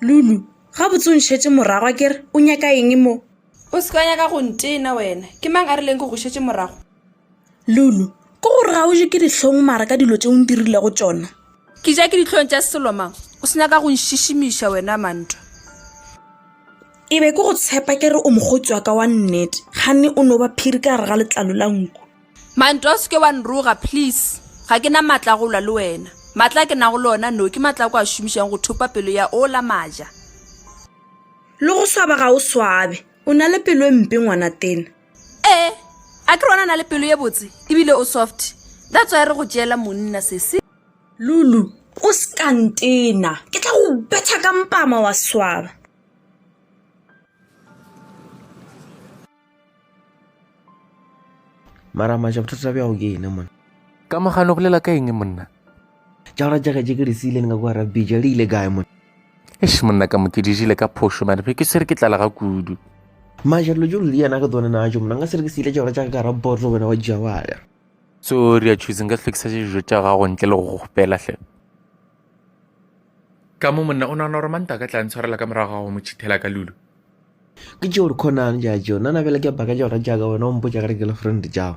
lulu gabotse o ntšhetše moragwa ke re o nyaka eng mo o se ka nyaka go ntena wena ke mang a rileng ke go šetše morago Lulu, Ke gore ga o je ke dihlong mara ka dilo tše o ndirile go tšona. Ke ja ke dihlong tša selo mang? O se nyaka go nšišimiša wena Mantwa. E be ke go tshepa ke re o mokgotsi wa ka wa nnete, ganne o no ba phiri ka gare ga letlalo la nku. Mantwa, O se ke wa nroga please. Ga ke na matla a go lwa le wena. Matla a ke nago le ona no ke matla a ko a šomišago go thopa pelo ya ola Maja. Le go swaba ga o swabe. O na le pelo e mpe ngwanatena. ee a ke re ona na le pelo ye botse ebile o soft that's why re go tšeela monna sese lulu o sekantena ke tla go betha ka mpama wa swaba mara maja bothata bja go ke ene mona ka mogano bolela ka eng monna Tšaura tša gaje ke re se ile le nga kwa rabija le ile kae mona? Eish monna ka mo ke dijile ka phošo mane phe ke se re ke tlala ga kudu. Maja dilo tšo ludi yana ke tsone na jo monna nga se re ke se ile tšaura tša ka ka rabotlo wena wa dija wa ya. So re ya choose nka hlokisa dijo tša gago ntle le go go gopela hle. Ka mo monna o nagana gore manta ka tla ntshwarela ka morago ga go mo chithela ka lulu. Ke tšeo re khonang ja jo nana bela ke baka tšaura tša ka wena o mpotša gare ke le friend tšao.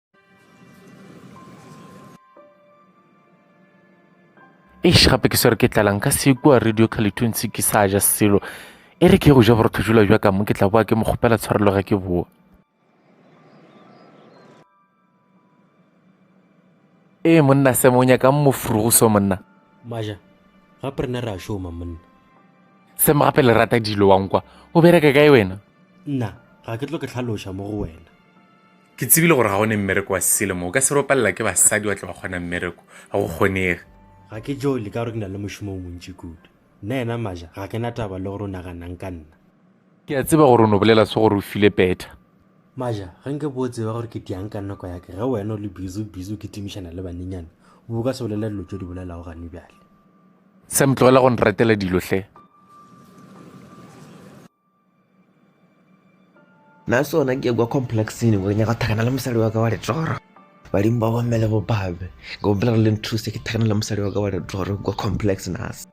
eish gape ke swere ke tlalang ka se kua radio calituntse ke sa ja selo e re ke go ja borotho jula jwa ka mo ke tla boa ke mo kgopela tshwarelo ge ke boa ee monna se mo nyaka mofuru go so monna maja gape rena re a šoma monna se mo gape le rata dilo wankwa o bereka kae wena nna ga ke tlo ke tlhaloša mo go wena Ke tsebile gore ga go ne mmereko wa selemo. O ka se ropalela ke basadi wa tle wa kgona mmereko. Ga go kgonege. Ga ke jo le ka gore ke na le mošomo o montši kudu. Nna yena Maja ga ke na taba le gore o naganang ka nna. Ke a tseba gore o no bolela se gore o file petha. Maja, ge nke bo o tseba gore ke diang ka nako ya ke ge wena o le busy o busy o kitimišana le banenyana, o bo o ka se bolele dilo tšo di bolelago gane bjale. Sam, tlogela go nratela dilo hle. na sona ke kwa complexing go nyaka thakana le mosadi wa ka wa letoro badimo ba bomme le bopabe ke bompela re le nthuse ke thakana le mosadi wa ka wa letoro kwa complex nas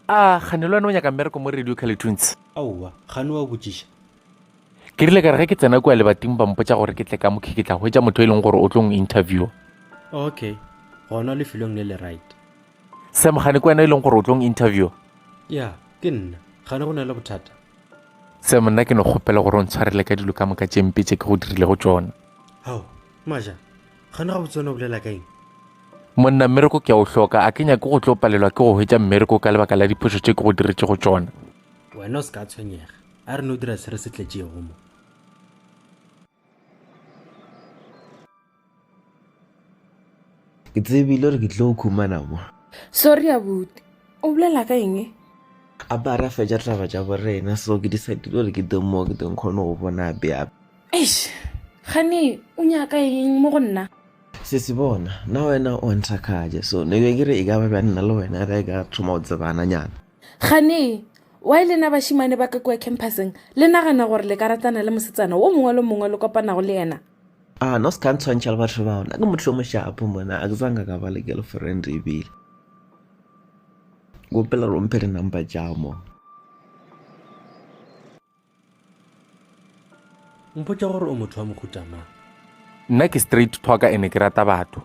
a gane le wena o nyaka mmereko mo radio calitunes aowa gane wa botšiša ke rile ka re ge ke tsena kua lebating ba mpotsa gore ke tle ka mokhe ke tla hwetsa motho e leng gore o tlo ng interview okay gona lefelong le le right sam gane ke wena e leng gore o tlong interview ya ke nna gane go na le bothata sam nna ke no kgopela gore o ntshwarele ka dilo ka moka tšempe tše ke go dirile go tsona gao maja gane ga botsone o bolela ka eng monna mmereko ke a o hloka a ke nyake go tlo palelwa ke go hwetša mmereko ka lebaka la diphošo tše ke go diretše go tsona wena o se ka tshwenyega a re no dira se re se tletšego mo Ke tsebile gore ke tlo o khumana mo. Sorry abuti. O bolela ka eng? A ba ra fetša taba tša borena so ke decidile gore ke teng mo ke teng kgone go bona ape ape. Eish. Gane o nyaka eng mo go nna? Sesi bona, na wena o nthakgatša so ne be ke re e ka ba bja nna le wena re ka thoma go tsebana nyana. Gane, why le na bašimane ba ka kua campuseng le nagana gore le ka ratana le mosetsana wo mongwe le mongwe le kopanago le yena? Ah no se ka ntshwantšha le batho bao nna ke motho yo moshapo mona a ke tsanga ka ba le girlfriend ebile kopela romphe di number tša mo mpotša gore o motho wa mohuta mang nna ke straight talker ene ke rata batho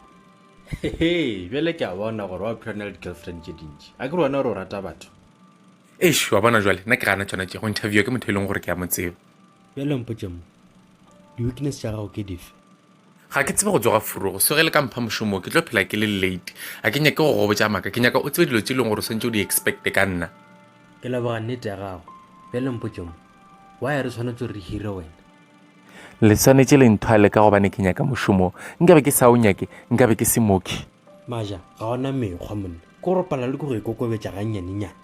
hehe bjale ke a bona gore wa phela na le di-girlfriend tše dintši a ke re wena gore o rata batho eish wa bona jwale nna ke gana tšona tše go interviewa ke motho e leng gore ke ya mo tseba Bjale mpotše mo, di-weakness tša gago ke dife? Ga ke tsebe go tsoga furogo, so ge le ka mpha mošomo ke tlo phela ke le late. Ga ke nyake go go botša maaka, ke nyaka o tsebe dilo tše e leng gore o swantše o di expecte ka nna. Ke leboga nnete ya gago. Bjale mpotše mo, why re swanetše gore re hire wena? Le swanetše le nthwale ka gobane ke nyaka mošomo. Nkabe ke sa o nyake, nkabe ke se mooki. Maja, ga o na mekgwa monna. Ke gore o palelwa ke go ikokobetša gannyanenyane.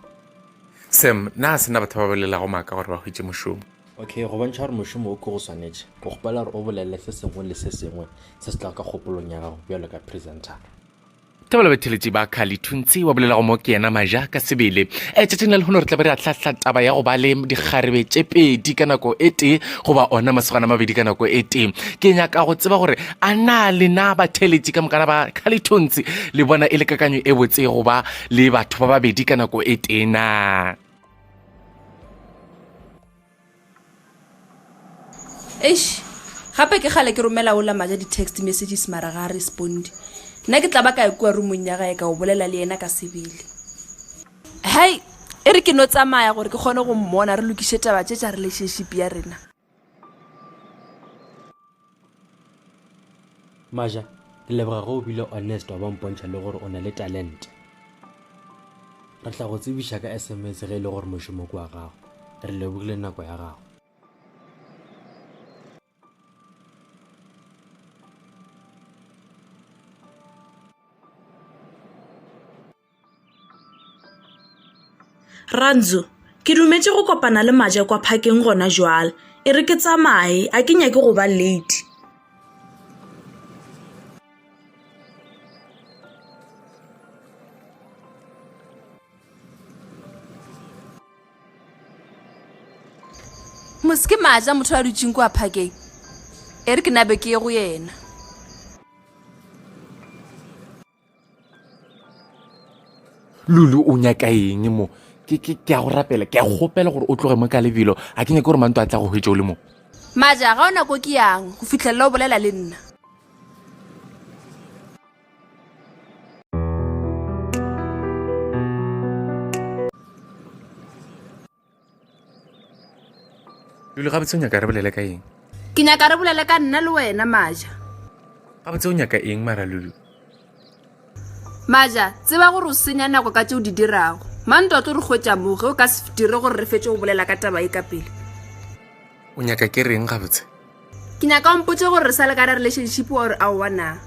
Sam, na sena batho ba bolelago maaka gore ba hwetše mošomo? Okay, go bontšha gore mošomo o ke go swanetše, ke kgopela gore o bolelele se sengwe le se sengwe se se tlago ka kgopolong ya gago bjalo ka presentara. Thabo batheletši ba Khali Thuntsi wa bolelago mo ke yena maja ka sebele. E tšatšing la lehono re tla be re ahlahla taba ya go ba le dikgarebe tše pedi ka nako e tee goba ona masogana mabedi ka nako e tee. Ke nyaka go tseba gore a na lena batheletši ka mokana ba Khali Thuntsi le bona e le kakanyo e botse goba le batho ba babedi ka nako e tee na? eish gape ke gale ke romela ola maja di-text messages mara ga a responde nna ke tla ba ka ekua rumong ya gae ka o bolela le yena ka sebele hai e re ke no tsamaya gore ke kgone go mmona re lokiše taba tše tša relationship ya rena maja ke leboga ge o bile honest wa ba mpontšha le gore o na le talente re tla go tsebiša ka sms ge e le gore mošomo ke wa gago re lebogile nako ya gago Randzo, ke dumetše go kopana le maje kwa phakeng gona jwale e re ke tsamaye a ke nyake go ba late mose ke maja motho a dutseng kwa phakeng e re ke nabe ke ye go yena lulu o nyaka eng mo ke ke ke a go rapela ke a go gopela gore o tloge mo ka lebelo a ke nyake gore manto a tla go hwetša o le mo maja ga o nako ke yang go fitlhelela o bolela le nna lule gabotse o nyaka re bolele ka eng ke nyaka re bolele ka nna le wena maja gabotse o nyaka eng mara lulu maja tseba gore o senya nako ka tse o di dirago mante o tlo re kgwetsa mo ge o ka se dire gore re fetse go bolela ka taba e ka pele o nyaka ke reng gabotse ke nyaka ompotse gore re sa le ka re relationship or a oana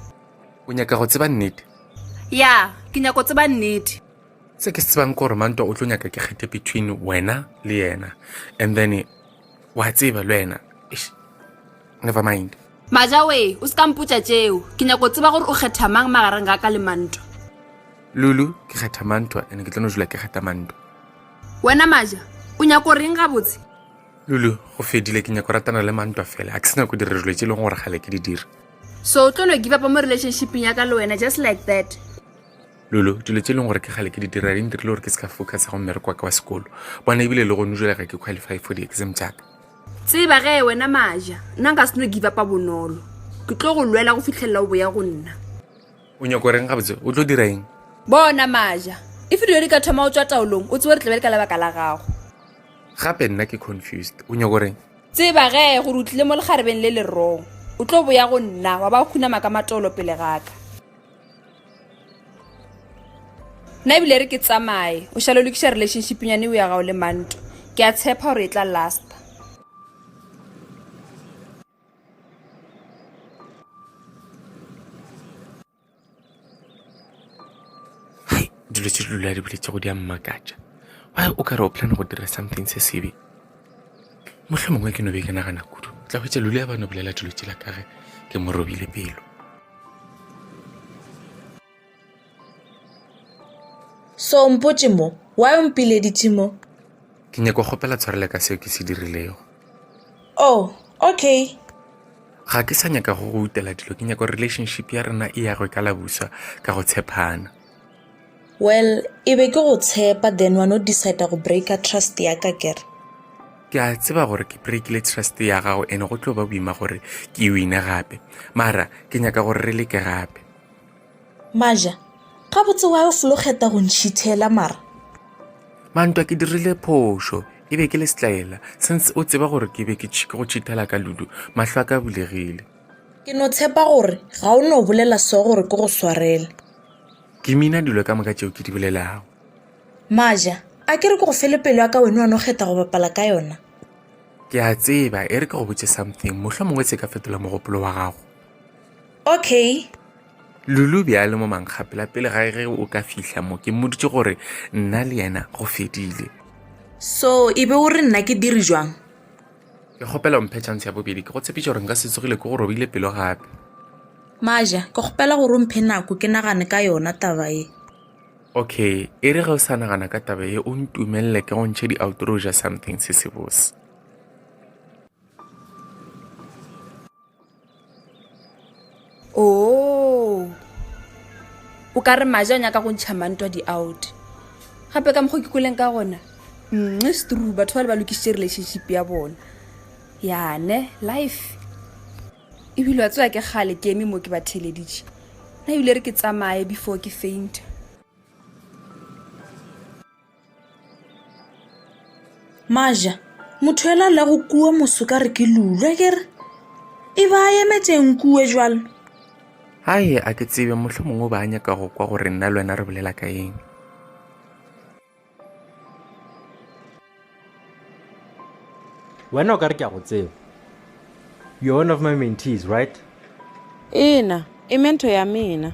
o nyaka go tseba nnete ya ke nyako tseba nnete se ke se tsebang ke gore mantwa o tlo nyaka ke kgethe between wena le yena and then wa tseba le wena never mind majawe o se ka mpotsa tšeo ke nyako tseba gore o kgetha mang magareng ga ka le mantwa lulu ke kgetha mantwa and ke tlo no jula ke kgetha mantwa wena maja o nyako reng gabotse lulu go fedile ke nyako ratana le mantwa fela a ke sena ko dira dilo tse e leng gore gale ke di dira so o tlo no give up mo relationshipeng ya ka le wena just like that Lulu, dilo tse e leng gore ke kgale ke di dira di ntirile gore ke se ka focusa go mmereko wa ka wa sekolo bona ebile le gone jale ga ke qualify for di-exam tsaka tseba ge wena maja nna nka seno give upa bonolo ke tlo go lwela go fitlhelela o boya go nna o nyako reng gabotse o tlo dira eng bona maja e fe dilo di ka thoma o tswa taolong o tsebo re tlabele ka lebaka la gago gape nna ke confused o nyako reng tseba ge gore o tlile mo lekgarebeng le le wrong o tlo boya go nna wa ba o khunama ka matolo pele gaka nna ebile re ke tsamaye o šale lokiša relationship nyane o ya gago le manto ke a tshepa gore e tla last dilo tse di lula di boletse go di a mmakatša wa o ka re o plan go dira something se sebe mohlho mongwe ke no be ke nagana kudu tla hwetsa lule ya ba no bolela dilo tsela ka ge ke mo robile pelo so mpotse mo wa o mpileditse mo ke nyako kgopela tshwarele ka seo ke se dirilego oh okay ga ke sa nyaka go go utela dilo ke nyako relationship ya rena e yagwe ka labuswa ka go tshepana Well, e be ke go tshepa then wa no decide go breaker trust ya ka kere. ke a tseba gore ke breakile trust ya gago ene go tlo ba boima gore ke e wine gape mara ke nyaka gore re leke gape Maja, gabotse wa o folo kgeta go ntšhithela mara. mantwa ke dirile phošo e be ke le setlaela since o tseba gore ke be ke tšhi- ke go tšhithela ka ludu mahlo a ka a bulegile Ke no tshepa gore ga o no bolela so gore ke go swarele. Ke mina dilo ka moka tšeo ke di bolelago. Maja, a ke re ke go fele pelo ya ka wena wa no kgetha go bapala ka yona. Ke a tseba, e re ke go botse something, mohlwa mongwe se ka fetola mogopolo wa gago. Okay. Lulu be a le mo mankgapela pele ga ge o ka fihla mo ke mmoditše gore nna le yena go fedile. So, e be o re nna ke dire jwang? Ke kgopela o mphe chance ya bobedi. Ke go tshepiša gore nka se tsogile ke go robile pelo gape. Maja, ke kgopela gore o mphe nako ke nagane ka yona taba ye. Okay, e re ge o sa nagana ka taba ye o ntumelele ke go ntšhe di-outroja something se sebose. oo o ka re maje a nyaka go ntšha mantwa di-out gape ka mokgwa ke kweleng ka gona nxe strue batho ba le ba lokišitše relationship ya bona yane life ebile wa tsewa ke kgale ke eme mo ke ba theleditše na ebile re ke tsamaye before ke fainta maja motho yola a lego kua moso ka re ke lulwe ke re e ba a emetšeng kue jalo gae a ke tsebe motlho mongwe ba a nyaka go kwa gore nna le wena re bolela ka eng wena o ka re ke a go tseba you're one of my mentees right ena e mento ya mena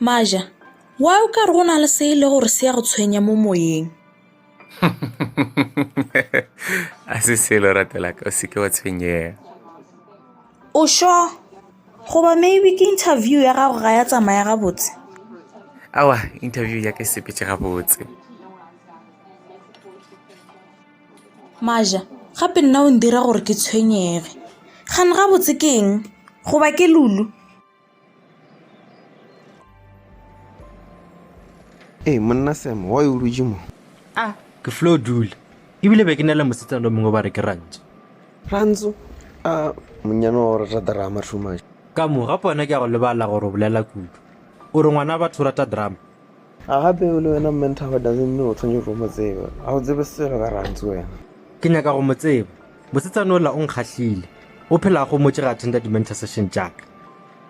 maja wa o ka re go na le se e le gore se ya go tshwenya mo moyeng a se selo ratelaka o seke wa tshwenyega o sho goba maybe ke interview ya gago ga ya tsamaya gabotse awa interview ya ke sepetse gabotse maja gape nna o ndira gore ke tshwenyege gane gabotse ke eng goba ke lulu ee monna sam wa o dutse mo a ke flo dula ebile be ke na le mosetsa lo mongwe ba re ke rantso rantso a monnyane wa gore rata drama too much ka mo gape wena ke ya go lebala gore o bolela kudu o re ngwana batho o rata drama A gape o le wena Mme Nthaba doesn't mean o tshwanetse go mo tseba. Ga o tsebe selo ka Rantsi wena. Ke nyaka go mo tseba. Mosetsana ola o nkgahlile. O phela a gomotše ge a attenda di-mentor session tša ka.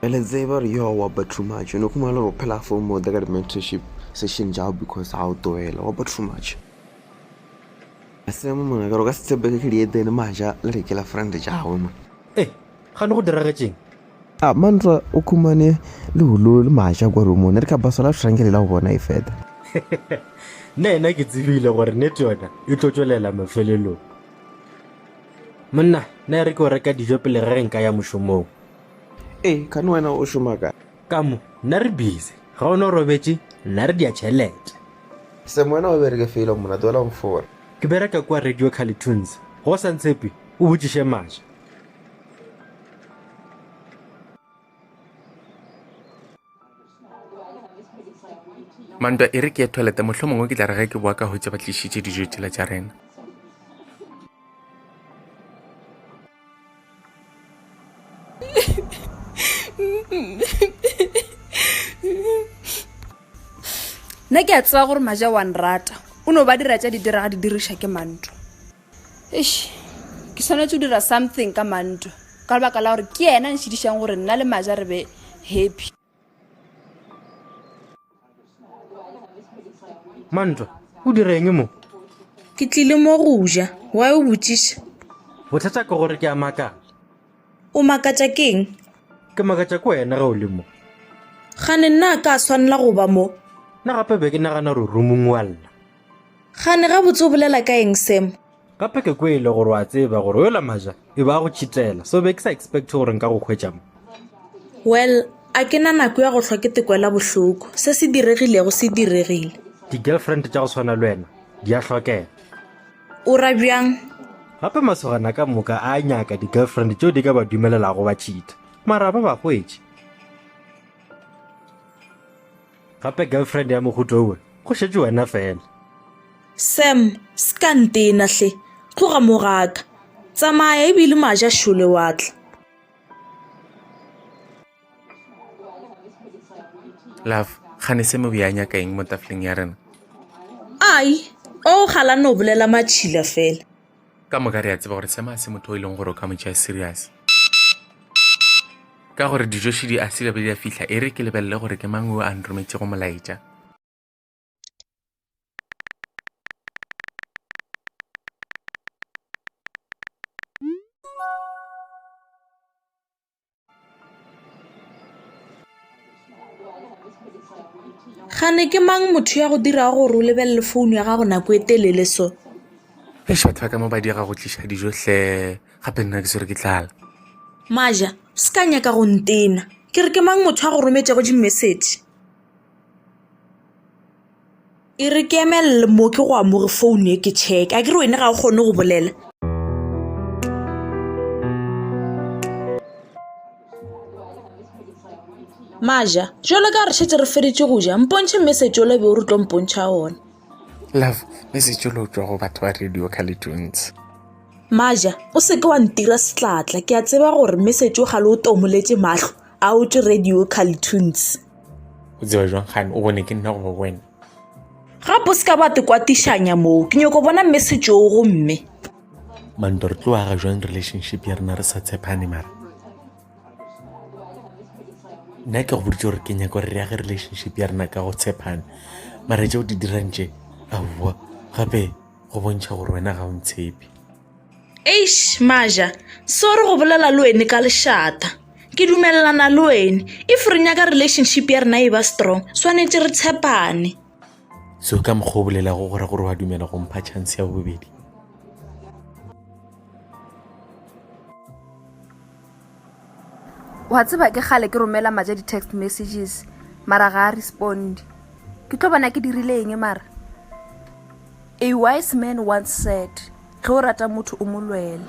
Re le tseba gore yo wa ba too much. O no khumana le gore o phela a fomote ka di-mentorship session tša gago because ga o toela. Wa ba too much. A se mo mona ka gore o ka se tshepege ke dietene maja le re ke la friend tša gagwe mona. Ee, gane go diragetšeng? A Mantra o khumane le holo le maja kwa rumone re ka basala re shranke le la go bona e feta. Nna ena ke tsebile gore nete yona e tlo tšwelela mafelelong. Monna, na re ke o reka dijo pele re re nka ya mošomong. E, kane wena o šoma ka? Ka mo, nna re busy. Ga o no robetše, nna re dia tšhelete. Sam wena o bereke felo monna, tlohela go fora. Ke bereka kua Radio Carlitoons. Ga o sa ntshepe? O botšiše maja. mantwa e re ke ye toilete mohlho mongwe ke tla re ge ke boa ka hwetše ba tlišitše dijo tšela tša rena nna ke a tseba gore maja wa nrata o no ba dira tša di diraga di diriša ke mantwa Eish, ke swanetše go dira something ka Manto ka lebaka la gore ke yena nšhidišang gore nna le Maja re be happy. Manto, o dira eng mo? Ke tlile mo go ja. Why o botšiša? Bothata ke gore ke a makala. O makatša ke eng? Ke makatša ke wena ge o le mo. Gane nna a ka swanela go ba mo? Nna gape be ke nagana gore o roomong wa lla. Gane gabotse o bolela ka eng Sam? Gape ke kwele gore wa tseba gore yola Maja e ba a go tšhitela, so be ke sa expect gore nka go hwetša mo. Well, a ke na nako ya go hlwa ke te kwela bohloko. Se se diregilego se diregile. Di-girlfriend tša go swana le wena di a hlokega. O ra bjang? Gape masogana ka moka a nyaka di-girlfriend tšeo di ka ba dumelelago ba tšhitha, mara ba ba hwetše. Gape girlfriend ya mohuto owe, go šetše wena fela. Sam, se ka ntena hle, tloga mo ga ka. Tsamaya ebile maja šole wa tla. Love, gane se mo bea nyaka eng mo tafleng ya rena? Ai, o galane o bolela matšhila fela. ka moka re a tseba gore sema se motho o e leng gore o ka mo tšea serious ka gore dijoši di a sila be di a fihla e re ke lebelele gore ke mang o a nrometšego molaetša Gane ke mang motho ya go dirago gore o lebelele founu ya gago nako e telele so e šatha ka mo ba diega go tliša dijo hle gape nna ke swere ke tlala maja se ka nyaka go ntena ke re ke mang motho a go rometšego dimessage E re ke emelele mo ke go amore phone e ke check a ke re wena ga o kgone go bolela maja jalo ka re šetse re feditše go ja mpontšhe mme setsolo be o re tlo mpontšha one love mme setsolo o tswa go batho ba radio calitunes maja o seke wa ntira setlatla ke a tseba gore mme setse o gale o tomoletse matlho a o tše radio carltoons o tseba jwang gane o bone ke nna goba wena gape o se ka ba tekwatišanya moo ke nyoko bona mme setšoo gomme manto re tlo aga jwang relationship ya rena re sa tshepane mara nna ke go boditse gore ke nyako re yage relationship ya rena ka go tshepane mara tse o di dirang tše aowa gape go bontšha gore wena ga o ntshepe eish maja sorry go bolela le wene ka lešata ke dumelelana le wene if re nyaka relationship ya rena e ba strong swanetše re tshepane so ka mokgwa o bolelago gore gore wa dumela go mpha chance ya bobedi wa tseba ke gale ke romela maja di-text messages mara ga a responde ke tlo bona ke dirile eng mara a wise man once said ge o rata motho o mo lwele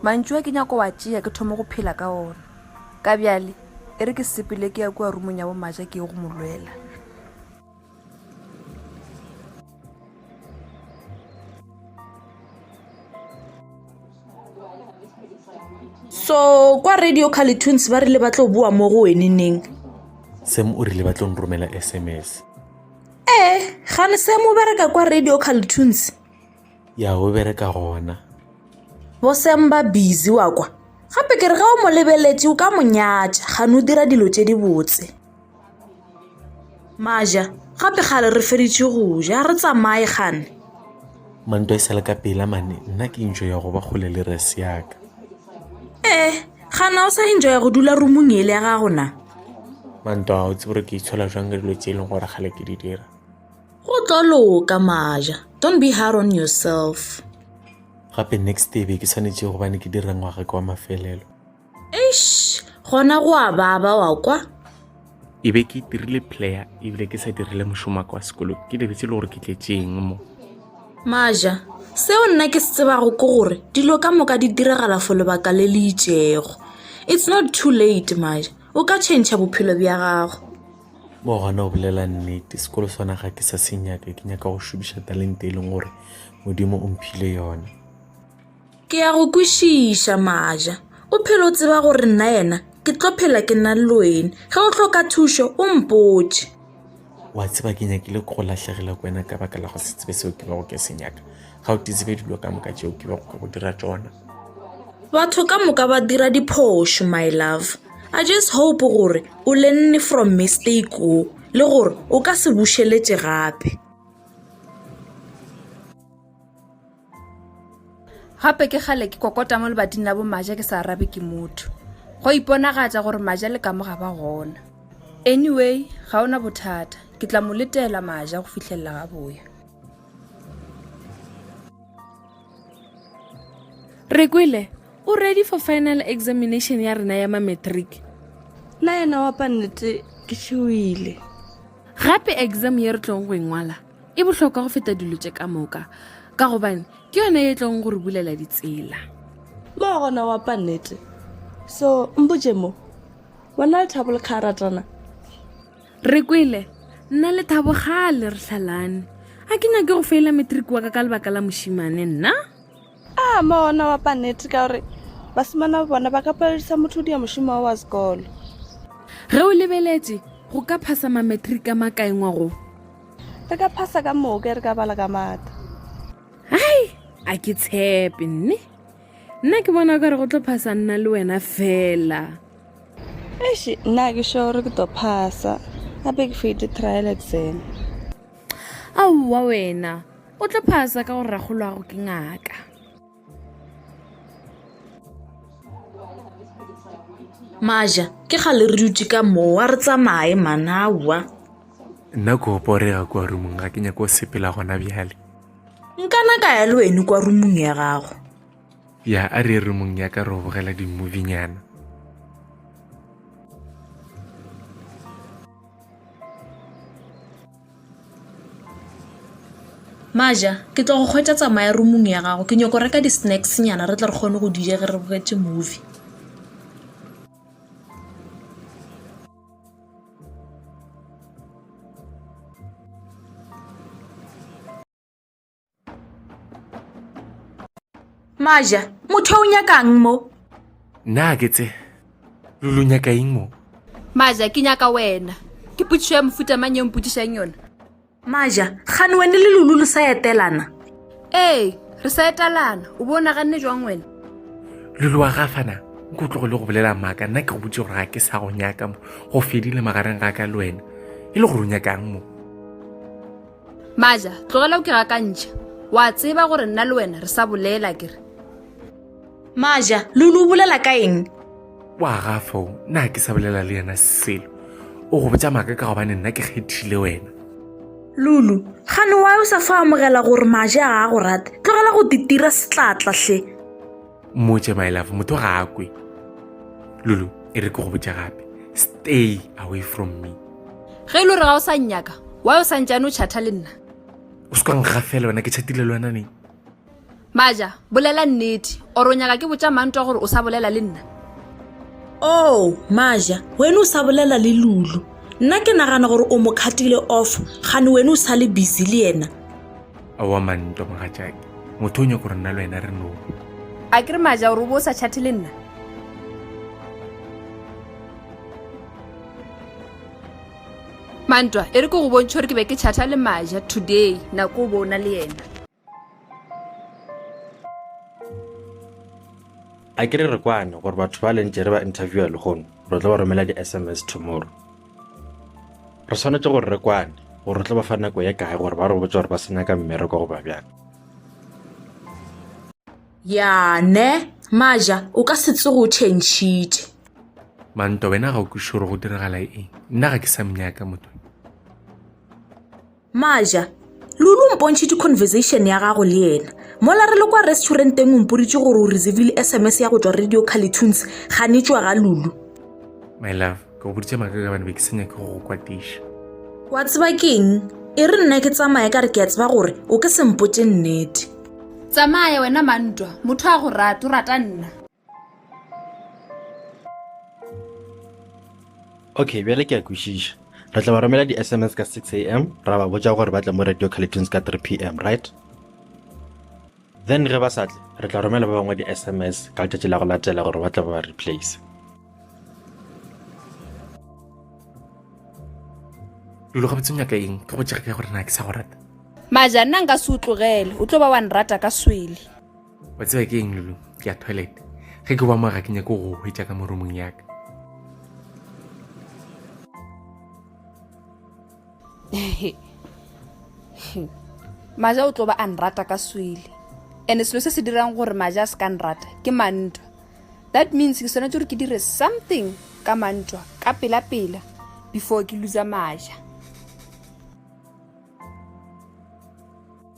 mantšu a ke nyako wa tšea ke thoma go phela ka ona ka bjale e re ke sepele ke ya kua rumong ya bomaja ke ye go mo lwela so kwa radio carletoons ba rile ba tlo boa mo go wene neng sam o rile ba tlo nromela sms ee eh, gane sam o bereka kwa radio carletoons ya o bereka gona bo sam ba busy wa kwa gape ke re ga o mo lebeletse o ka monyatša gane o dira dilo tse di botse maja gape gale re feditše go ja re tsamaye gane mantwa e sale ka pela mane nna ke intšo ya go ba kgole le res yaka ee gana o sa intšo ya go dula rumong ele ya gago na mantwa o tsebore ke itshola jwang ka dilo tse e leng gore gale ke di dira go tlo loka maja don't be hard on yourself gape next day be ke tshwanetse gobane ke dira ngwaga ke wa mafelelo eish gona go a baba wa kwa e be ke dirile player ebile ke sa dirile mošomo wa ka wa sekolong ke lebetse le gore ke tletseng mo maja seo nna ke se tsebago ke gore dilo ka moka di diragala fo lebaka le le itšego it's not too late maja o ka change bophelo bja gago mo gona o bolela nnete sekolo sona ga ke sa se nyaka ke nyaka go šomiša talente e leng gore modimo o mphile yone ke ya go kwešiša maja o phele o tseba gore nna yena ke tlo phela ke na le loene ge o tlhoka thušo o mpotše wa tseba ke nyakile go latlhegela ko wena ka baka la go se tsebe seo ke bego ke se nyaka ga o titsebe dilo ka moka tšeo ke bego ke go dira tsona batho ka moka ba dira diphošo my love i just hope gore o lenne from mistake o le gore o ka se bušeletse gape gape ke kgale ke kokota mo lebating la bomaja ke sa arabe ke motho go iponagatša gore maja le kamo ga ba gona anyway ga ona bothata ke tla mo letela maja go fitlhelela ga boya re kwele o ready for final examination ya rena ya mametric la yena wa pannete ke šewile gape exam ye re tlong go engwala e bohlokwa go feta dilo tše ka moka ka gobane ke yone e tlong gore bulela ditsela mo gona wa pa nnete so mpotse mo wena le thabo le kga ratana re kwele nna le thabo gale re tlhalane a ke nyake go feela matric wa ka ka lebaka la mošimane nna A mo ona wa paneti ka gore basimana ba bona ba ka paledisa motho dia mošomo wa sekolo. Ge o lebeletše go ka phasa mametrika makaengwa go. Re ka phasa ka moka re ka bala ka mata. Hai, a ke tshepe nne. Nna ke bona ka re go tlo phasa nna le wena fela. Eish, nna ke sure ke tlo phasa. Gape ke fete trial exam. aowa wena o tlo phasa ka gore ragolo gago ke ngaka maja ke ga le re dutse ka moo a re tsamaye manawa nna ko oporega kwa rumong ga ke nyako sepela gona bjale nkana ka ya le wene kwa rumong ya gago ya a re rumong ya ka ro bogela dimmovinyana Maja, ke tlo go kgwetša tsamaya rumong ya gago ke nyoko reka di-snacks nyana re tle re kgone go dija ge re bogetse movie maja motho o nyakang mo na ke tse lo lo nyaka eng mo maja ke nyaka wena ke potšišo ya mofuta mang ye mpotšišang yona maja gane wene le lulu le sa etelana ee re sa etalana o bo o naganne jwang wena lulu wa gafana nko o tlogole go bolela maaka nna ke go botse gore ga ke sa go nyaka mo go fedile magareng ga ka le wena e le gore o nyakang mo maja tlogela o ke gakantšha wa tseba gore nna le wena re sa bolela ke re maja lulu o bolela ka eng wa gafo na ke sa bolela le yena selo o go botsa maaka ka gobane nna ke kgethile wena lulu gane wa o sa fa amogela gore maja ga a go rata tlogela go ditira setlatlahle motse my love motho ga a kwe lulu e re ke go botša gape stay away from me ge e le gore ga o sa nnyaka wa o sa ntšane o chatha le nna o se kwang ga fela wena ke chatile le wena neng maja bolela nnete oro o nyaka ke botša mantwa gore o sa bolela le nna o oh, maja wena o sa bolela le lulu nna ke nagana gore o mo kgatile off gane wena o sa le busy le yena Aowa man ntwa mogatšake. Motho o nyaka gore nna le wena re no. A ke re maja gore o bo o sa chathe le nna? Mantwa, e re ke go bontšhe gore ke be ke chatha le maja today nako o bo o na le yena. A ke re re kwane gore batho ba lentše re ba interviewa lehono re tlo ba romela di-SMS tomorrow. Re swanetše gore re kwane gore re tlo ba fa nako ye kae gore ba re botse gore ba se nyaka mmereko goba bjang. Ya ne, Maja, o ka se tsoge o tšhentšhitše. Manto, wena ga o kwiše gore go diragala eng. Nna ga ke sa mnyaka, motho. Maja, Lulu o mpontšhitše conversation ya gago le yena. Mola re le kwa restauranteng o mporitše gore o reservile SMS ya go tšwa Radio Carlitunes ganetšwa ga Lulu. My love, ke go boditše maka ka bane be ke senya ke go go kwatiša. Wa tseba keng? E re nna ke tsamaya ka re ke a tseba gore o ke sempotše nnete. Tsamaya wena mantwa, motho a go rata, o rata nna. okay bjale ke a kwešiša re tla ba romela di-sms ka 6 a m ra ba botša gore ba tla mo radio calyptons ka 3 p m right then ge ba sa tle re tla romela ba bangwe di-sms ka letšatši la go latela gore ba tla ba ba replace lo ga botsenya ka eng ke go jega ka gore na ke sa go rata maja nna nka se o tlogele o tlo ba wa nrata ka swele wa tseba ke eng lulu ke ya toilet ge ke ba mo ga ke nyake go hwetša ka moromong yaka maja o tlo ba a nrata ka swele and-e selo se se dirang gore maja a se ka nrata ke mantwa that means ke swanetse gore ke dire something ka mantwa ka pela-pela before ke lusa maja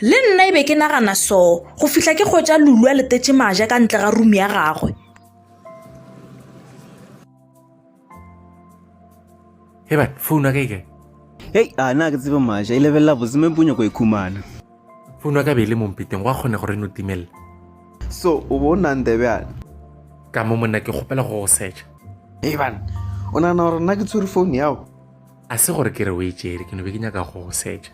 le nna e be ke nagana so go fihla ke kgwetsa lulu a letetse maja ka ntle ga rumi ya gagwe eba founu ya ka ikae hei a na ke tsebe maja e lebelela boseme punyo ko e khumana founu ya ka be e le mompeteng go a kgone gore e no timelela so o bo o nang tebjane ka mo monna ke kgopela go go secha ebane o nagana gore nna ke tshwere founu yago A se gore ke re o e tšere, ke no be ke nyaka go go setša.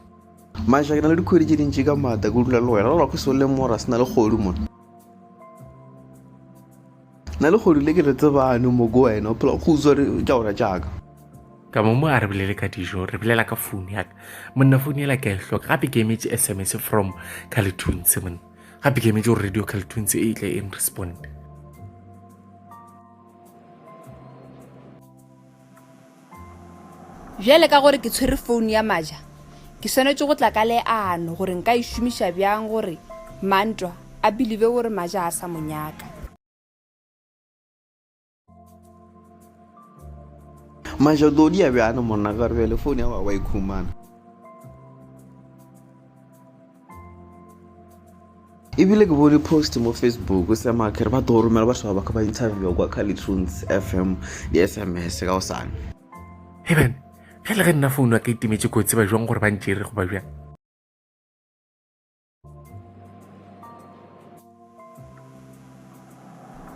Maša, ke na le dikgwedi tše dintši ka maata ke dula le wena, la lwako seo le mora se na le kgodu mona. Na le kgodu le ke le tsebane mo go wena, o phela go utswa tša ora tšaka. Ka mo mo a re bolele ka dijo, re bolela ka founu ya ka. Monna founu ela ke a e hloka, gape ke emetse SMS from Calitunes monna. Gape ke emetse gore radio Calitunes e tle e nresponde. Bjale ka gore ke tshwere founu ya Maja, ke swanetše go tla ka leano gore nka e šomiša bjang gore Mantwa a bilive gore Maja a sa mo nyaka. Maja, o tlo dia bjana monna ka gore bjale founu ya wa wa e khumana. ebile ke bone post mo facebook o sema ke re ba tlo romela batho ba baka ba interviewa kwa calitunes fm di-sms ka go sane eben ge le ge nna founu a ka itemetse kotsi ba jwang gore ba ntsere go ba bjang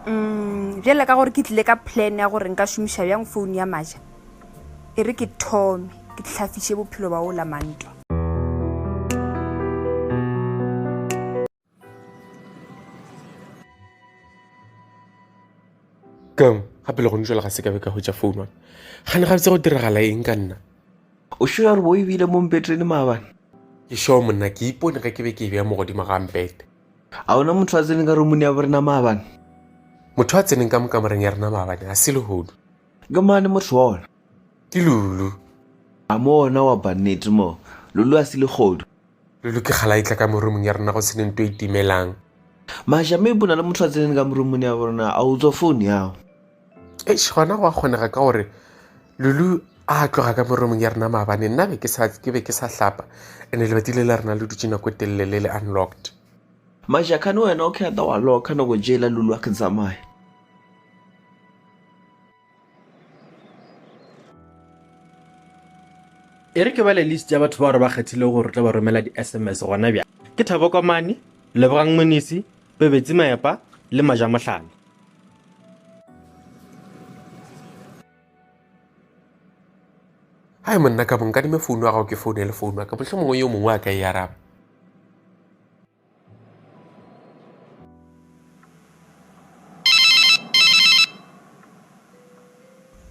um bjale ka gore ke tlile ka plan ya gore nka šomiša bjang founu ya maja e re ke thome ke tlhafiše bophelo ba o la mantwa keng gape le gone jale ga se kabe ka hwetša founu wane gane ga botse go diragala eng ka nna o sure gore bo ebile mo mpetrene maabane ke sure monna ke ipone ge ke be ke e beya mogodimo ga mpete A ona motho a tseneng ka romuni ya borena maabane? Motho a tseneng ka mo kamoreng ya rena maabane ga se lehodu. Ke mane motho wa ona. Ke Lulu. A mo ona wa ba nnete moo. Lulu a se legodu. Lulu ke kgala e tla ka mo romung ya rena go se ne nto e timelang. Maja, maybe o na le motho a tseneng ka mo romuni ya borena. A utswa founu ya gago? eish gona go a kgonega ka gore lulu a tloga ka moromong ya rena maabane nna be ke sa ke be ke sa hlapa ene lebati le la rena le dutse nako e telele le le unlocked majakane wena o khata wa loka nako jela lulu a ke tsamaya e re ke bale list ya batho bao re ba kgethilego gore re tla ba romela di-sms gona bja ke thabo komane lebogang monisi pebetsi maepa le majamohlane hai monna ka bonka dime founu ya gago ke foune le founu ya ka motlho mongwe yo mongwe a ka e araba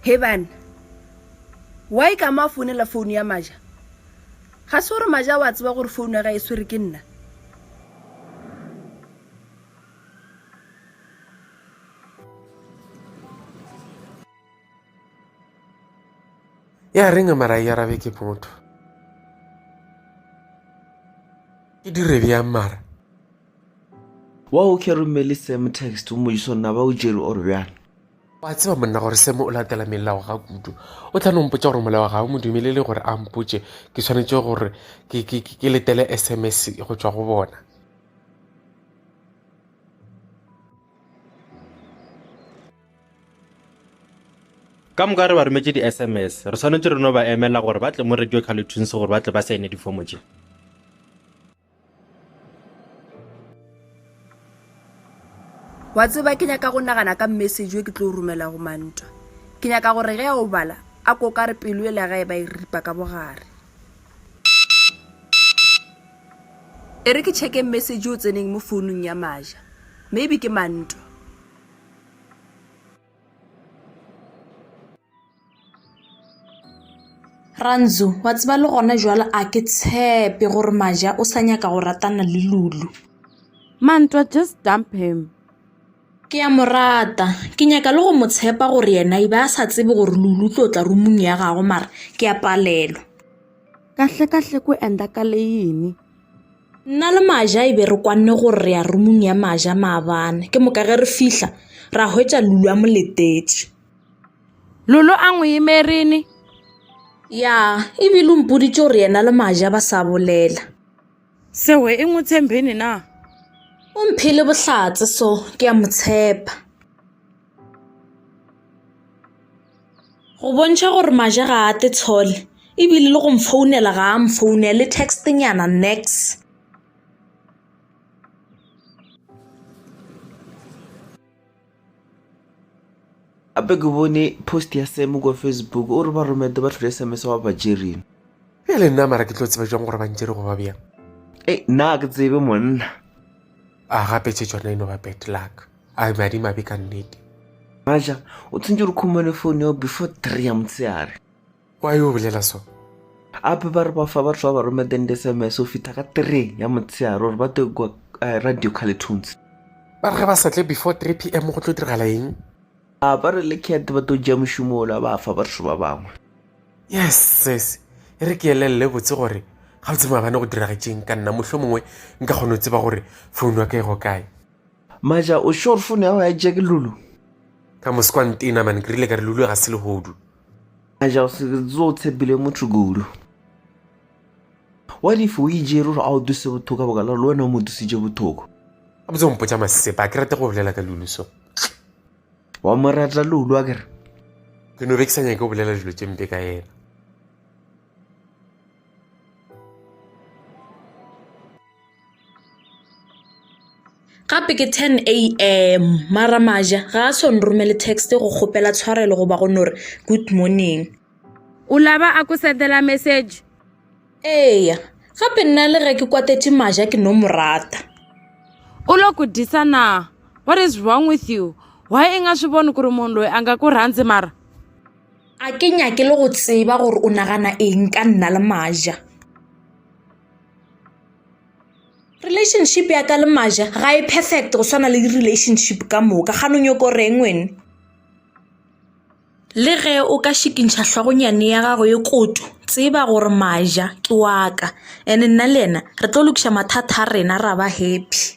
he bana wy ka mo a founela founu ya maja ga se gore maja wa tseba gore founu ya ga e swere ke nna ya reng a mara ya rabe ke motho ke dire bjang mara wa o ke romele sam text o mojiso nna ba o jere or bjang wa tseba monna gore seme o latela melao ga kudu o tla nompotsa gore molao ga o mo dumelele gore a mpotse ke tshwanetse gore ke letele sms go tswa go bona ka moka re ba rometse di-sms re tshwanetse re no ba emela gore ba tle mo radio calutunes gore ba tle ba saene difomo tše wa tseba ke nyaka go nagana ka message e ke tlo romela go mantwa ke nyaka gore ge a o bala a koka re pelo e le gae ba e ripa ka bogare E re ke check-e message o tseneng mo founung ya Maja. Maybe ke Mantwa. Rantzu, wa tseba le gona jwale a ke tshepe gore Maja o sa nyaka go ratana le Lulu. Mantwa, just dump him. Ke a mo rata. Ke nyaka le go mo tshepa gore yena e be a sa tsebe gore Lulu o tlo tla rumung ya gago mara ke a palelwa. Kahlekahle ku enda ka le yini? Nna le Maja e be re kwanne gore re ya rumung ya Maja maabane. Ke moka ge re fihla, ra hwetša Lulu a mo letetše. Lulu a ngwe yemerini? Ya, e bile o mpoditše gore yena le Maja ba sa bolela. Sewe e ngwe tshembeni na? O mphile bohlatse so ke ya mo tshepa. go bontšha gore maja ga a te tshole ebile le go mfounela ga a mfounele le textnyana nex gape ke bone post ya sam kwa facebook o re ba romete ba tlhole sms wa ba jereng e le nna mara ke tlo tseba jang gore ba ntšere goba bjang e nna ke tsebe monna a gape tše tsona e no ba bad luck a be madimabe ka nnete maja o tshwantse re khumone phone yao before three ya motsheare wa yo bolela so ape ba re ba fa batho ba ba romedeng di-sms o fitha ka three ya motsheare gore ba tlo kwa eh, radio caletones ba re ge ba sa tle before 3 p m go tlo diragala eng a ba re le cat ba tlo ja mošomo ola ba fa batho ba bangwe yes sis e re ke elelele botse gore ga o tse maabane go diragetšeng ka nna mohlho mongwe nka kgone go tseba gore founu ya ka e go kae Maja, o sure phone ya go ya tšea ke Lulu? Ka mose kwa ntena man, ke rile ka re Lulu ga se lehodu. Maja, o se tso o tshepile motho kudu. What if o ijere gore a o duse bothoko boka le wena o mo dusitše bothoko? A botse o mpotša masepa, a ke rate go bolela ka Lulu so. Wa mo rata Lulu a kere? Ke no be ke sa nyake go bolela dilo tše mpe ka yena. gape ke 10 am mara maja ga a so nromele text go kgopela tshwarelo goba go no re good morning o laba a ko sendela message eya gape nna le ge ke kwatetše maja ke no mo rata u lo ku disa na what is wrong with you why i nga swi voni ku ri munhu loyi a nga ku rhandzi mara A ke nyake le go tseba gore o nagana eng ka nna le Maja. Relationship ya ka le Maja ga e perfect go swana le relationship ka moka ga no nyoko reng wene. Le ge o ka šikintšha hlogonyane ya gago e koto tseba gore Maja ke wa ka and nna le yena re tlo lokiša mathata a rena ra ba happy.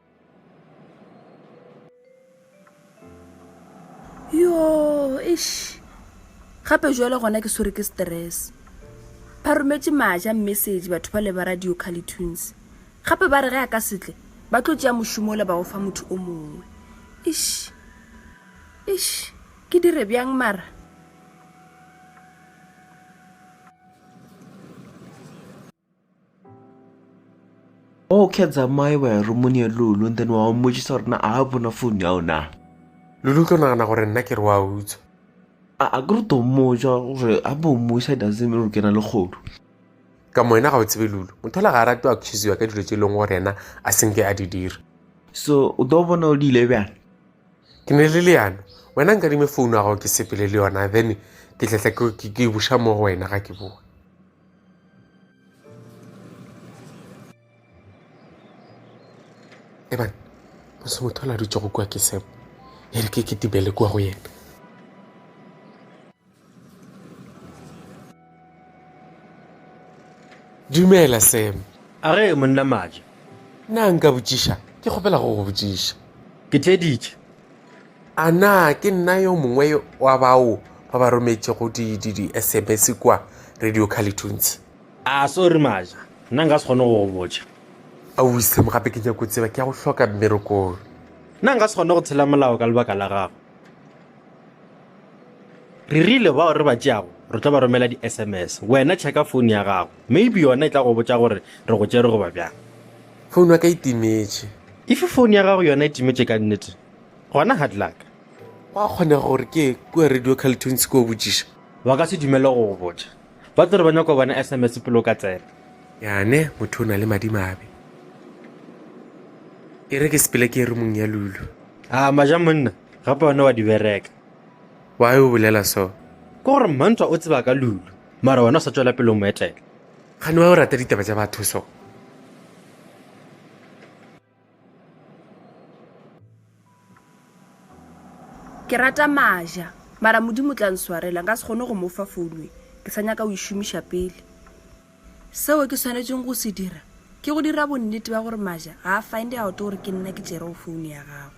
yo ish gape jale gona ke swere ke stress ba rometse maja message batho ba le ba radio cali tunes gape ba re ge a ka setle ba tlo tšea mošomo le ba go fa motho o mongwe ish ish ke dire bjang mara okay tsamaye wa ya romong ya lulu and then wa o mmotšiša gore na a bona phone ya ona lulu tlo nagana gore nna ke re wa utswa a ke re to mmotša gore a bo mmuša doesn't mean gore ke na le kgodu ka mo wena ga o tsebe lulu motho la ga a rate o accuseiwa ka dilo tse e leng gore yena a senke a di dira so o tlo bona o di ile bjang ke ne le leano wena nka dime founu ya gago ke sepele le yona then ke tletla ke buša mo go wena ga ke boa ebane o se motho a la dutšego kua ke semo e re ke ketibele kua go yena dumela semo a re monna maja na nka botšiša ke kgopela go go botšiša ke tleditše A na ke nna yo mongwe wa bao ba ba rometšego di-SMS kua Radio Carleton's? A sorry Maja, nna nka se kgone go go botša. Aowi Sam, gape ke nyako tseba, ke ya go hloka mmerekong. Nna nka se kgone go tshela molao ka lebaka la gago. Re rile bao re ba tšeago re tlo ba romela di-SMS. Wena checka phone ya gago, maybe yona e tla go botša gore re go tšere goba bjang. Phone ya ka e timetše. If phone ya gago yona e timetše ka nnete, gona hard luck gwa kgonega gore ke kua radio caltunes ke o botšiša ba ka se dumele go go botša ba tlo re ba nyako bona sms pele o ka tsena yane motho o na le madimabe e re ke sepele ke e re mong ya lulu a maja monna gape one wa di bereka wa o bolela so ke gore mantwa o tseba ka lulu mara wena o sa tswela pele o mo etela gane wa o rata ditaba tša batho so ke rata maja mara modimo tla nswarela nka se kgone go mo fa founwe ke sa nyaka o e šomiša pele seo ke tshwanetseng go se dira ke go dira bonnete ba gore maja ga a find out gore ke nna ke tšerego founu ya gago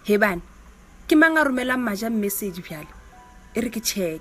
hebane ke mang a romelang maja message bjale e re ke check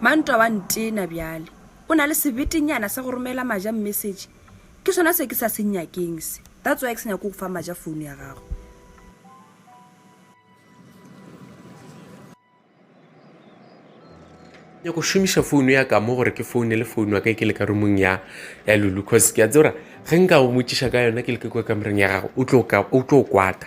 mantwa wa ntena bjale o na le sebetenyana sa go romela maja message ke sona se ke sa se nyakeng se that's why ke se nyako go fa maja phone ya gago ya go šomiša founu ya ka mo gore ke foune le founu wa ka ke le ka rumong ya ya lulu cause ke a tsebora ge nka go motšiša ka yona ke le ke kwa kamoreng ya gago o tlo kwata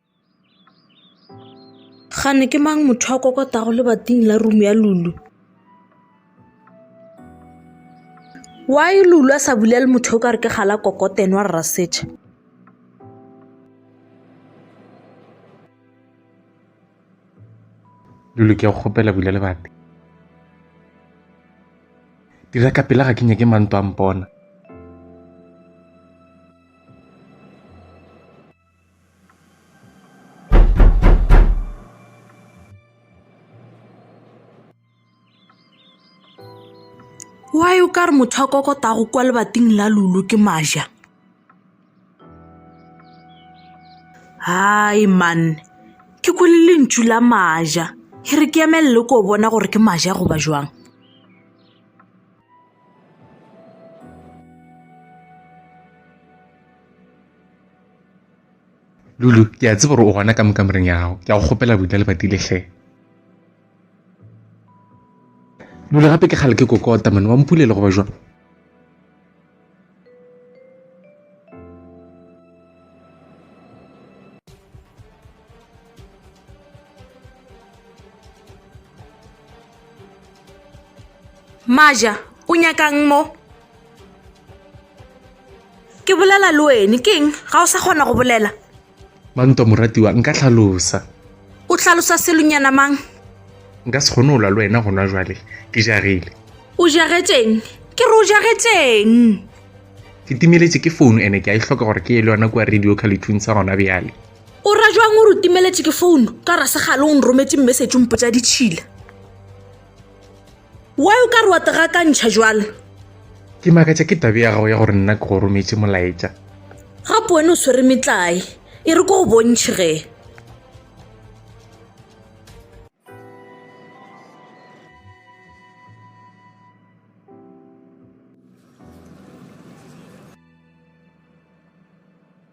Gane ke mang motho a kokotago lebating la rumo ya Lulu? Why Lulu a sa bulele motho o ka re ke gala kokotene wa rra setšha? Lulu ke a go kgopela bula lebati. Dira ka pela ga ke nyake manto a mpona. Why o ka re motho a kokotago kwa lebating la lulu ke maja? Hai man, ke kwele lentšu la maja. E re ke emelele ko bona gore ke maja goba jwang. lulu ke a tseba gore o gona ka mokamoreng ya gago ke a go kgopela boina le badile hle lulu gape ke kgale ke kokota mone wa mpulele goba jwang Maja, o nyakang mo? Ke bolela le wene, ke eng? Ga o sa kgona go bolela? Manto, moratiwa, nka hlalosa. O hlalosa selonyana mang? Nka se kgone go lwa le wena gona jwale, ke jagile. O jagetšeng? Ke re o jagetšeng? Ke timeletše ke founu ene ke a e hloka gore ke ye le yona kua radio khalethung sa gona bjale. o ra jwang o re o timeletše ke founu ka rasegale o nrometse message o mpotsa ditšhila wa o ka re wa tegakantšha jwalo ke makatša ke tabe ya gago ya gore nna ke go rometse molaetša gape wena o swere metlae e re ko go bontšhe ge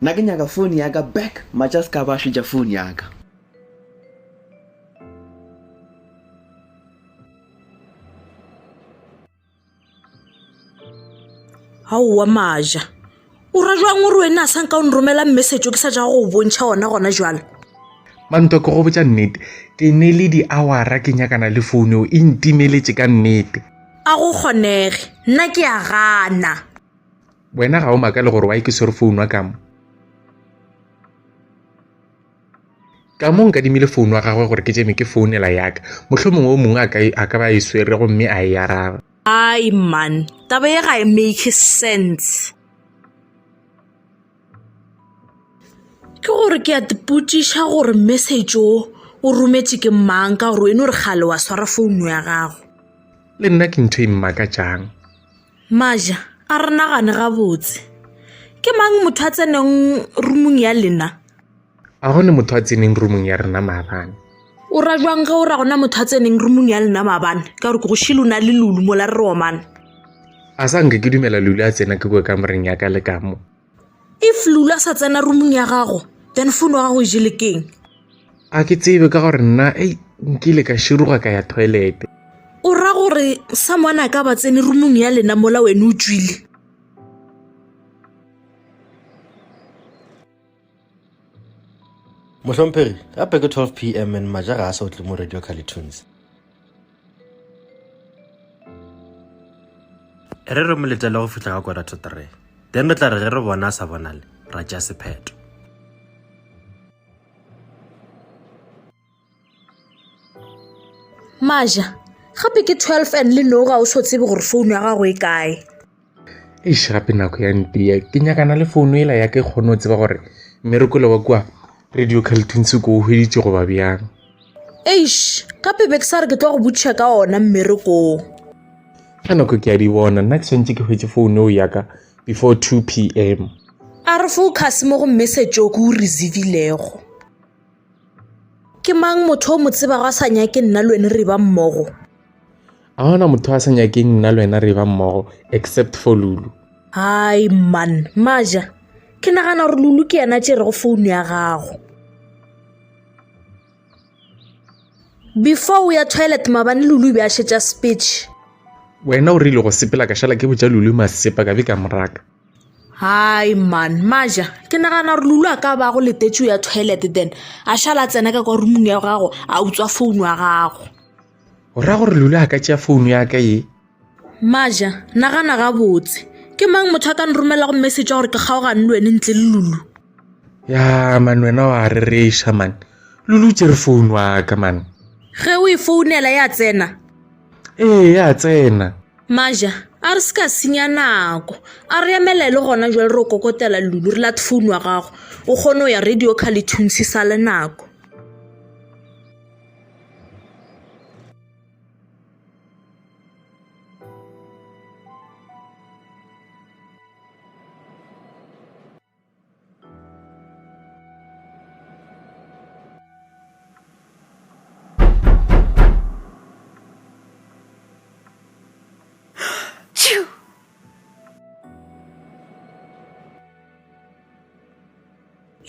Na ke nyaka phone ya ka back. Matša se ka ba šetša phone ya ka. Aowa Maja, o ra jwang gore wena a sanka o nromela message o ke sa ja go o bontšha ona gona jwale? Manto ke go botša nnete ke ne le di-hour-a ke nyakana le phone eo e ntimeletše ka nnete. A go kgonege. Nna ke a gana. Wena ga o makale gore wa e ke swere founu wa kamo. Ka mo nka dimile founu wa gagwe gore ke tšeme ke founela yaka. Mohlho mongwe o mongwe a ka ba e swere go mme a e araba. Ai man, taba ye ga e make sense. ke gore ke a tipotšiša gore message o o rometše ke mang ka gore e no re gale wa swara founu ya gago le nna ke ntho e mmakatšang maja a re nagane gabotse ke mang motho a tseneng rumong ya lena A go ne motho a tseneng rumong ya rena maabane? O ra jwang ge o ra gona motho a tseneng rumong ya lena maabane ka gore ke go shile o na le lulu mola re romane a sa nke ke dumela lulu a tsena ke boe ka moreng ya ka le ka mo if lulu a sa tsena rumong ya gago then fono wa gago e jele keng a ke tsebe ka gore nna ei nkile ka širuga ka ya toilete o ra gore someone a ka ba tsene rumong ya lena mola wene o tswile mohlomphegi gape ke 12 pm and maja ga a sa otle mo radio calitunes re re mo letele go fihla ka kora to three then re tla re ge re bona a sa bonale ra tšea sepheto maja gape ke 12 and le noga o so tsebe gore founu ya gago e kae eish gape nako ya ntea ke nyakana le founu ela ya ke kgone go tseba gore mmerekole wa kua radio caltins ko o hweditse goba bjang eish gape be ke sa re ke tlo go butšha ka ona mmerekong ga nako ke a di bona nna ke tshwanetse ke hwetse founu eo yaka before 2 p m a re focus mo go message o ke o receivillego ke mang motho o mo tsebago a sa nyake nna le wena re ba mmogo a gona motho a sa nyakeng nna le wena re ba mmogo except for lulu hai man maja ke nagana gore lulu ke yena tše rego founu ya gago before o ya toilet mabane lulu e be a šetša speech wena o rile go sepela ka šala ke botša lulu masepa ka be ka moraka Hai man maja ke nagana gore lulu a ka bago letetso ya toilet then a šala a tsena ka kwa rumong ya gago a utswa founu ya gago o ra gore lulu a ka tšea founu ya ka ye maja nagana gabotse ke mang motho a ka nromelago message ya gore ke kgaogane le wene ntle le lulu ya man wena wa rereša man lulu tse re founu wa ka man ge o e founela ya tsena ee ya tsena maja a re se ka senya nako a re emelele gona jale re kokotela lulu re late founu wa gago o kgone go ya radio car le thuntshe sa le nako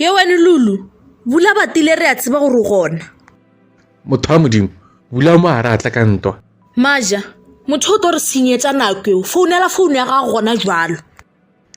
ye wene lulu bula batile re a tseba gore gona motho wa modimo bula mo a re atla ka ntwa maja motho o tlo re senyetsa nako eo founela founu ya gago gona jalo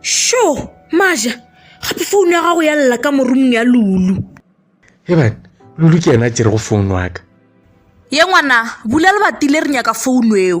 sho maja gape founu ya gago ya lela ka morumong ya lulu ebane lulu ke yena a tšerego founu wa ka ye ngwana bula lebatile re nyaka founu eo